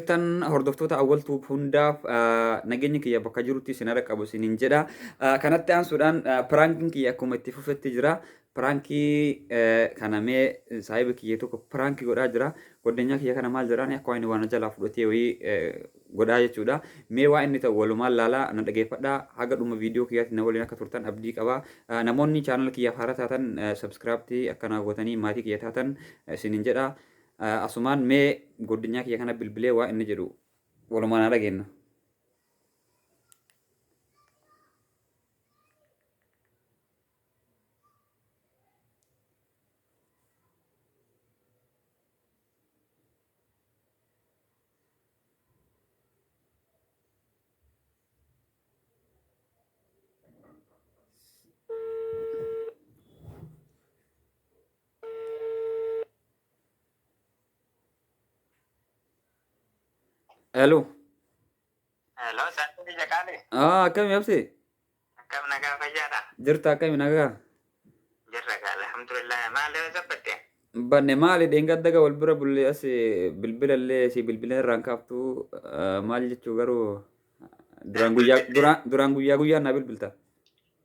jirtan hordoftoota Awwal Tuub hundaaf nageenyi kiyya bakka jirutti isin irra qabu isiniin jedha. Kanatti aansuudhaan piraankiin kiyya akkuma itti fufetti jira. Piraankii kana mee saahiba kiyya tokko piraankii godhaa jira. Goddanyaa kiyya kana maal jedhaan akka waan inni waan jalaa fudhatee wayii godhaa jechuudha. Mee waa inni ta'u walumaan laalaa na dhageeffadhaa haga dhuma viidiyoo kiyyaatti na waliin akka turtan abdii qaba. Namoonni chaanala kiyyaaf haaraa taatan sabskiraabtii akka naa gootanii maatii kiyya taatan isiniin jedha. Asumaan mee goddinyaa kiyya kana bilbilee waa inni jedhu walumaan haa dhageennu. Hello. Hello, sa'aatii biyya qaali. Ah, akkami abse? Akkam nagaa fayyaadha? Jirta akkami nagaa? Jirra gaa alhamdulillah. Maal yoo sabbatte? Banne maali dheengadda gaa wal bira bulle as bilbila illee si bilbila irraan kaaftu ah, maal jechuu garuu duraan guyyaa duraan duraan guyyaa guyyaan naa bilbilta.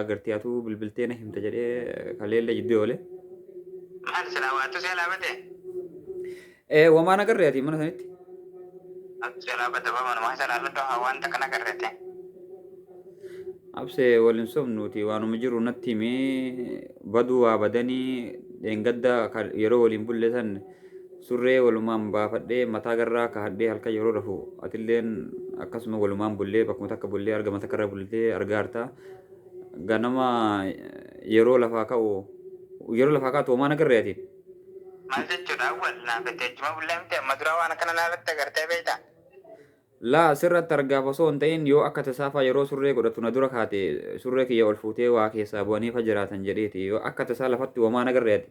agartee atuu bilbiltee na himta jedhee kaleellee jidduu oole. Maal silaa waatu si alaa bate? Eh, wamaa na garree ati mana sanitti. Waatu si alaa bate bama numaa sanaa lodoo haa waan takka na garrete. Abse waliin sobnuuti waanuma jiru natti himi baduu waa badanii dheengadda kan yeroo waliin bulle san Surree walumaan baafadhee mataa garraa kahadhee halkan yeroo rafu atilleen akkasuma walumaan bullee bakkuma takka bullee argama takkarra bultee argaarta. Ganama yeroo lafaa ka'u yeroo lafaa kaatu homaa nagarree ati? Maal jechuudha awwal naa fete ijjuma bullaa miti amma duraa waan akkana naarratti agartee beeyta? Laa sirratti argaaf osoo hin ta'in yoo akka tasaafaa yeroo surree godhattu na dura kaate surree kiyya ol fuutee waa keessaa bu'anii fa jiraatan jedheeti yoo akka tasaa lafatti homaa nagarree ati?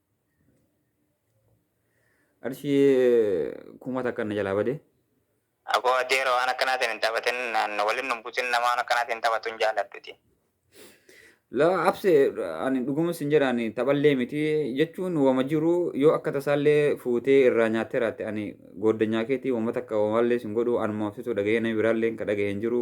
Qarshii kuma takka na jalaa bade. Aboo adeera waan akkanaatiin hin taphatin naan waliin nu buusin nama waan akkanaatiin hin taphatu hin jaalladhuti. Laa abse ani dhuguma sin jedha ani taphallee miti jechuun wama jiru yoo akka tasaallee fuutee irraa nyaattee raatte ani gooddanyaa keetii wama takka wamallee sin godhu anuma absitu dhaga'ee namni biraallee ka dhaga'e hin jiru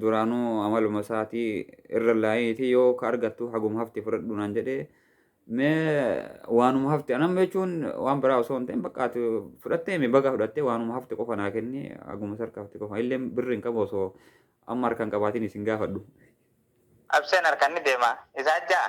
duraanuu amaluma isaatii irra laayiitii yoo ka argattu haguma hafti fudhadhu naan jedhee mee waanuma hafti anamma jechuun waan biraa osoo hin ta'in bakka ati fudhattee mi baga fudhattee waanuma hafti qofa naa kenni haguma sarka hafti qofa illee birri hin qabu osoo amma harkaan qabaatiin isin gaafadhu. Absheen harkan ni deema. Isaa ja'a.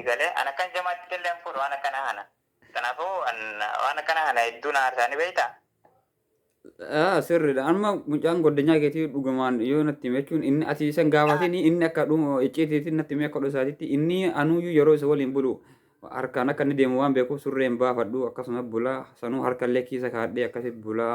Egalee an akkan jamaatti tellee hin fuudhu waan akkanaa kana. Kanaafuu an waan akkanaa kana hedduu na aarsaa ni beektaa? Ah, sirriidha. Amma mucaan goddanyaa keetii dhugumaan yoo natti hime jechuun inni ati isan gaafatiin inni akka dhuma icciitiitiin natti hime akka dhusaatitti inni anuuyyuu yeroo isa waliin bulu harkaan akka inni deemu waan beekuuf surree hin baafadhu akkasuma bulaa sanuu harkallee kiisa kaadhee akkasitti bulaa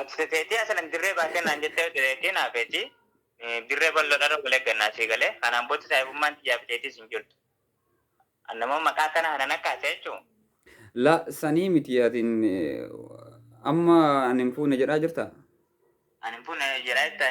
Ati feetii asalan dirree baatee naan jettee dirreetii naa feetii dirree bal'oodhaan wal eeggannaa sii galee kanaan booda saayibummaan tiyyaa fi teetiis hin jirtu. Annamoo maqaa kana hanan akka haasee jechuun. La sanii miti atin amma ani hin fuune jedhaa jirta. Ani hin fuune jedhaa jirta.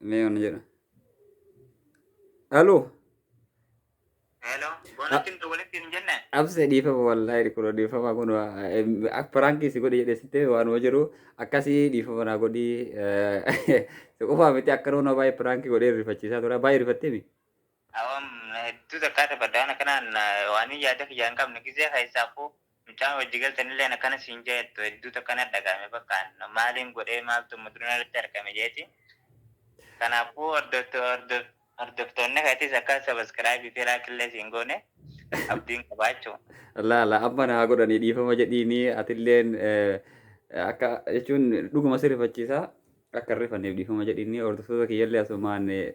Mee wana jedha. Aloo. Hello, bonatti hin walitti hin jenne. Abse dhiifama wallaahi dhikula dhiifama kun piraanki si godhi jedhe sitte waanuma jiru akkasii dhiifama naa godhi si qofaa miti akka nama baay'ee piraanki godhee rifachiisaa tura baay'ee rifattee mi Awam hedduu takkaa taphadha waan akkanaan waan yaada kiyyaa hin qabne gizee keessaafu mucaan wajji galtanilleen akkana siin jettu hedduu takka na dhaga'ame bakkaan maaliin godhee maaltu amma dura narratti argame jeeti kanaafuu hordofto- hordof- hordoftoonni keetis akka sabaskiraabii fi laakillee siin goone abdiin qabaachuu Laa laa amma naa godhanii dhiifama jedhiini atilleen eh, akka jechuun dhuguma si rifachiisa akka hin rifanneef dhiifama jedhiini hordoftoota kiyyallee asumaan eh,